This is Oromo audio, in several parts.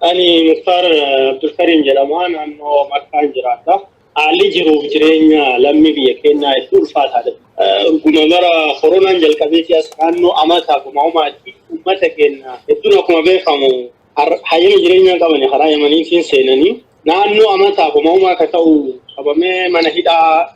Ani Muktaar Abdulkariim jedhama. Naannoo Makkaan jiraadha. Haalli jiruuf jireenya lammii biyya keenyaa hedduu ulfaataadha. Guma bara koronaan jalqabeeti as naannoo amata guma umaatti uummata keenya hedduun akkuma beekamu hayyama jireenyaa qaban karaa yamaniitiin seenanii naannoo amata guma umaa akka ta'u qabamee mana hidhaa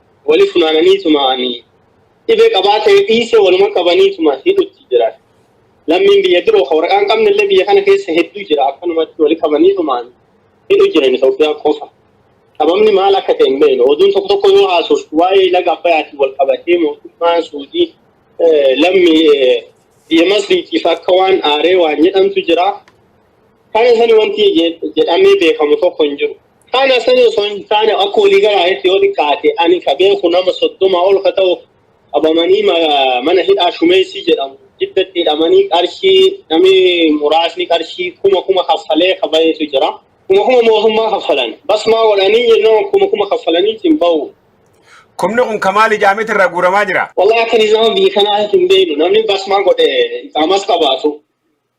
Wali funaananiituma ani dhibee qabaa ta'e dhiisee waluma qabaniituma hidhutti jira. Lammiin biyya biroo kan waraqaa hin qabne illee biyya kana keessa hedduu jira. Akkanumatti wali qabaniitumaan hidhu jiran Itoophiyaa qofa. Sababni maal akka ta'e hin beeknu. Oduun tokko tokko yoo haasoftu waa'ee laga Abbayaatiin wal qabatee mootummaan Suudii lammii biyya Masriitiif akka waan aaree waan jedhamtu jira. Kana sani wanti jedhamee beekamu tokko hin jiru. Kana san osoo hin taane akka walii galaatti yoo xiqqaate ani ka beeku nama soddoma ol ka ta'u qabamanii ma- mana hidhaa shumeessii jedhamu jiddatti hidhamanii qarshii namni muraasni qarshii kuma kuma kaffalee ka bahetu jira. Kuma kuma mootummaa kaffalan. Basmaa godhanii jennaan kuma kuma kaffalanii ittiin bahu. Kumni kun ka maali jaamiti irraa guuramaa jira? Wallahi akka nizaama biyya kanaa hin beeknu namni basmaa godhe iqaamas qabaatu.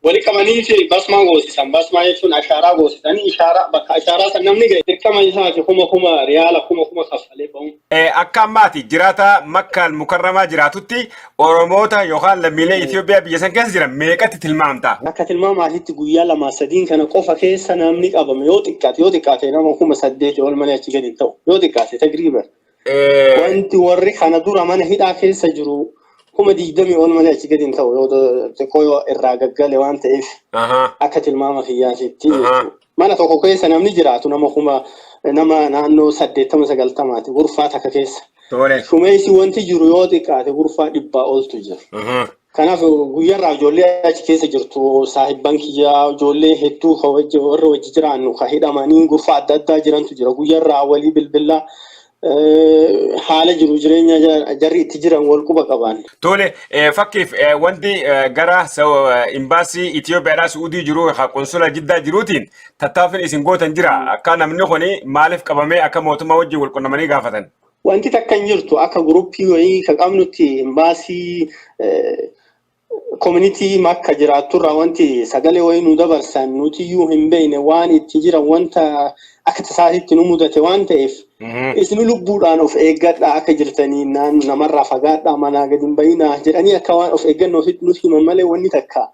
Wali qabanii fi basmaa goosisan. Basmaa jechuun ashaaraa goosisanii ishaaraa bakka ashaaraa san namni ga'e dirqama isaati kuma kuma riyaala kuma kuma kaffalee ba'uun. Akka amma ati jiraataa Makka Al-Mukarramaa jiraatutti Oromoota yookaan lammiilee Itoophiyaa biyya san keessa jiran meeqatti tilmaamta? Akka tilmaama atitti guyyaa lamaa sadiin kana qofa keessa namni qabame yoo xiqqaate yoo xiqqaate nama kuma saddeetii ol malee achi gadi hin ta'u. Yoo xiqqaate tagriiban Eh, Wanti warri kana dura mana hidhaa keessa jiru kuma digdamii ol malee achi gadi hin ta'u yoo ta- xiqqoo yoo irraa gaggale waan ta'eef aha, akka tilmaama kiyyaatitti Ahaa. jechuudha. Mana tokko keessa namni jiraatu nama kuma nama naannoo saddeettama sagaltamaati gurfaa takka keessa. Tole. Shumeessi wanti jiru yoo xiqqaate gurfaa dhibbaa oltu jira. Aha, Kanaaf guyyaarraa ijoollee achi keessa jirtu saahibban kiyyaa ijoollee hedduu ka wajji- warra wajji jiraannu ka hidhamanii gurfa adda addaa jirantu jira. Guyyaarraa walii bilbila eh, haala jiru jireenya ja- jarri itti jiran wal quba qaban. Tole eh, fakkiif eh, wanti eh, gara Sau- eh, imbaasii Itoophiyaadhaa Su'uudii jiru ha qonsula jiddaa jiruutiin tattaaffiin isin gootan jira. Akka namni kun maaliif qabamee akka mootummaa wajjin wal qunnamanii gaafatan. Wanti takka hin jirtu akka guruppii wayii ka qabnutti imbaasii koominitii makka jiraatturraa wanti sagalee wayii nu dabarsan nutiyyuu hin beekne waan itti jiran wanta akka tasaatitti nu mudate waan ta'eef isin lubbuudhaan of eeggadhaa akka jirtanii naan namarraa fagaadhaa manaa gadi hin bayinaa jedhanii akka waan of eeggannootitti nuti himan malee wanni takka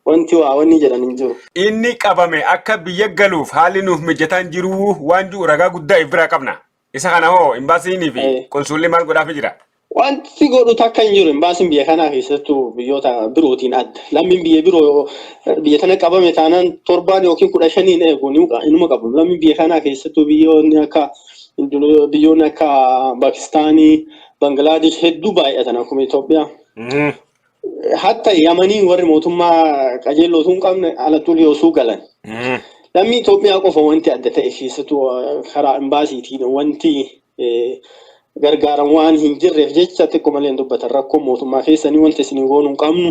wanti waa wanni jedhan hin jiru. Inni qabame akka biyya galuuf haalli nuuf mijataan jiruu waan jiru ragaa guddaa if biraa qabna. Isa kana hoo imbaasiinii fi Eh. qunsulli maal godhaafi jira? Wanti godhu takka hin jiru. Imbaasiin biyya kanaa keessattuu biyyoota birootiin adda. Lammiin biyya biroo eh, biyya tana qabame taanaan torbaan yookiin kudha shaniin eegu ni muqa- inuma qabu. Lammiin biyya kanaa keessattuu biyyoonni akka Indone- biyyoonni akka Paakistaanii, Bangilaadesh hedduu baay'atan akkuma Itoophiyaa. Mhm. hatta yamanii warri mootummaa qajeelloo osoo hin qabne alattuullee osoo galan lammii Itoophiyaa qofa wanti adda ta'e keessattuu eh, karaa imbaasiitiin wanti eh, gargaaran waan hin jirreef jecha xiqqoo malee hin dubbatan rakkoo mootummaa keessanii wanti isin hin goonu hin qabnu